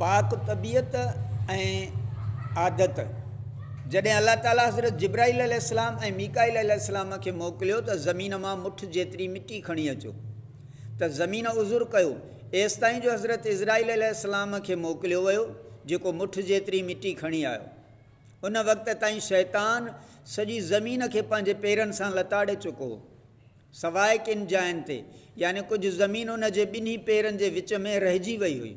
پاڪ طبيعت ۽ عادت، جڏهن الله تعاليٰ حضرت جبرائيل عليه السلام ۽ ميڪائيل عليه السلام کي موڪليو ته زمين مان مٺ جيتري مٽي کڻي اچو ته زمين عذر ڪيو ايستائين جو حضرت عزرائيل عليه السلام کي موڪليو ويو جيڪو مٺ جيتري مٽي کڻي آيو ان وقت تائين شيطان سڄي زمين کي پنهنجي پيرن سان لتاڙي چڪو هو. سواء ڪن جاين تي، يعني ڪجهه زمين ان جي ٻنهي پيرن جي وچ ۾ رهجي وئي هئي.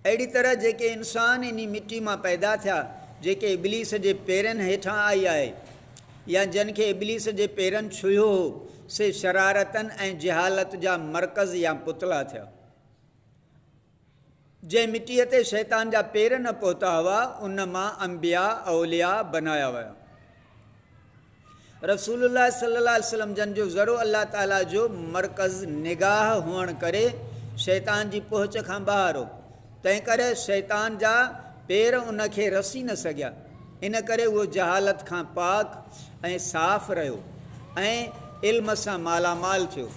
اهڙي طرح جيڪي انسان انهي مٽي مان پيدا ٿيا، جيڪي ابليس جي پيرن هيٺان آئي آهي، يا جن کي ابليس جي پيرن ڇهيو هو، سي شرارتن ۽ جهالت جا مرڪز يا پتلا ٿيا. جنهن مٽيء تي شيطان جا پير نه پهتا هئا، ان مان انبياء، اولياء، بنايا ويا. رسول الله صلي الله عليه وسلم جن جو ذرو الله تعاليٰ جو مرڪز نگاهه هئڻ ڪري شيطان جي پهچ کان ٻاهر هو، تنهنڪري شيطان جا پير ان کي رسي نه سگهيا، ان ڪري اهو جهالت کان پاڪ ۽ صاف رهيو ۽ علم سان مالا مال ٿيو.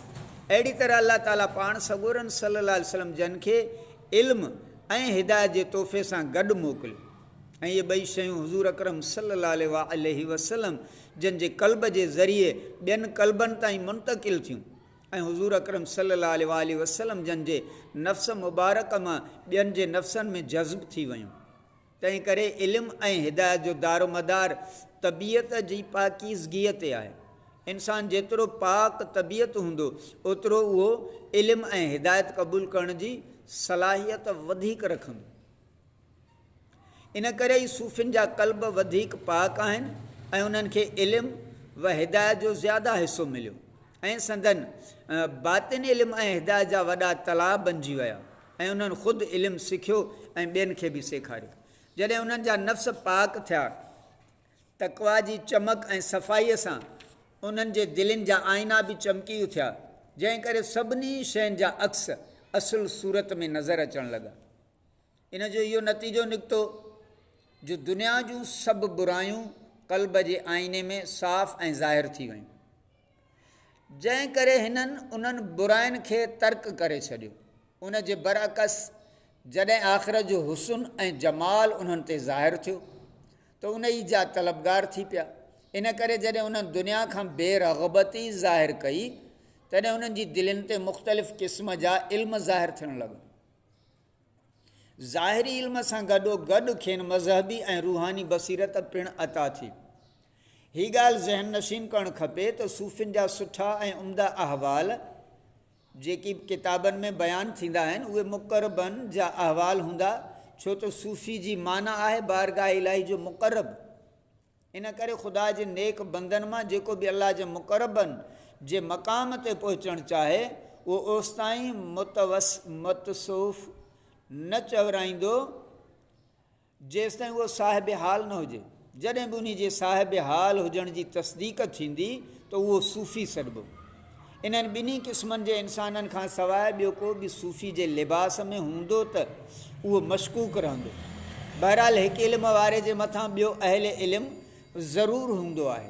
اهڙي طرح الله تعاليٰ پاڻ سڳورن صلّي الله عليه وسلّم جن کي علم ۽ هدايت جي تحفي سان گڏ موڪليو ۽ اهي ٻئي شيون حضور اڪرم صلّي الله عليه واٰله وسلّم جن جي قلب جي ذريعي ٻين قلبن تائين منتقل ٿيون ۽ حضور اڪرم صلّي الله عليه واٰله وسلّم جن جي نفس مبارڪ مان ٻين جي نفسن ۾ جذب ٿي ويون. تنهن ڪري علم ۽ هدايت جو دارومدار طبيعت جي پاڪيزگيء تي آهي. انسان جيترو پاڪ طبيعت هوندو، اوترو اهو علم ۽ هدايت قبول ڪرڻ جي صلاحيت وڌيڪ رکندو. ان ڪري ئي صوفين جا قلب وڌيڪ پاڪ آهن ۽ انهن کي علم و هدايت جو زياده حصو مليو ۽ سندن باطن علم ۽ هدايت جا وڏا تلاء بنجي ويا. ۽ انهن خود علم سکيو ۽ ٻين کي به سيکاريو. جڏهن انهن جا نفس پاڪ ٿيا، تقويٰ جي چمڪ ۽ صفائيء سان انهن جي دلين جا آئينا به چمڪي اٿيا، جنهن ڪري سڀني شين جا عڪس اصل صورت ۾ نظر اچڻ لڳا. ان جو اهو نتيجو نڪتو جو دنيا جون سڀ برايون قلب جي آئيني ۾ صاف ۽ ظاهر ٿي ويون. جنهن ڪري هنن انهن براين کي ترڪ ڪري ڇڏيو. ان جي برعڪس جڏهن آخرت جو حسن ۽ جمال انهن تي ظاهر ٿيو ته انهي جا طلبگار ٿي پيا. ان ڪري جڏهن انهن دنيا کان بي رغبتي ظاهر ڪئي تڏهن انهن جي دلين تي مختلف قسم جا علم ظاهر ٿيڻ لڳا. ظاهري علم سان گڏو گڏ کين مذهبي ۽ روحاني بصيرت پڻ عطا ٿي. هي ڳالهه ذهن نشين ڪرڻ کپي ته صوفين جا سٺا ۽ عمدا احوال جيڪي به ڪتابن ۾ بيان ٿيندا آهن اهي مقربن جا احوال هوندا ڇو ته صوفي جي معنيٰ آهي بارگاهه الاهي جو مقرب. ان ڪري خدا جي نيڪ بندن مان جيڪو به الله جي مقربن جي مقام تي پهچڻ چاهي اهو اوستائين متصوف نه چورائيندو جيستائين اهو صاحب حال نه هجي. جڏهن به انهي جي صاحب حال هجڻ جي تصديق ٿيندي ته اهو صوفي سڏبو. انهن ٻنهي قسمن جي انسانن کان سواء ٻيو ڪو به صوفي جي لباس ۾ هوندو ته اهو مشڪوڪ رهندو. بهرحال هڪ علم واري جي مٿان ٻيو اهل علم ضرور هوندو آهي.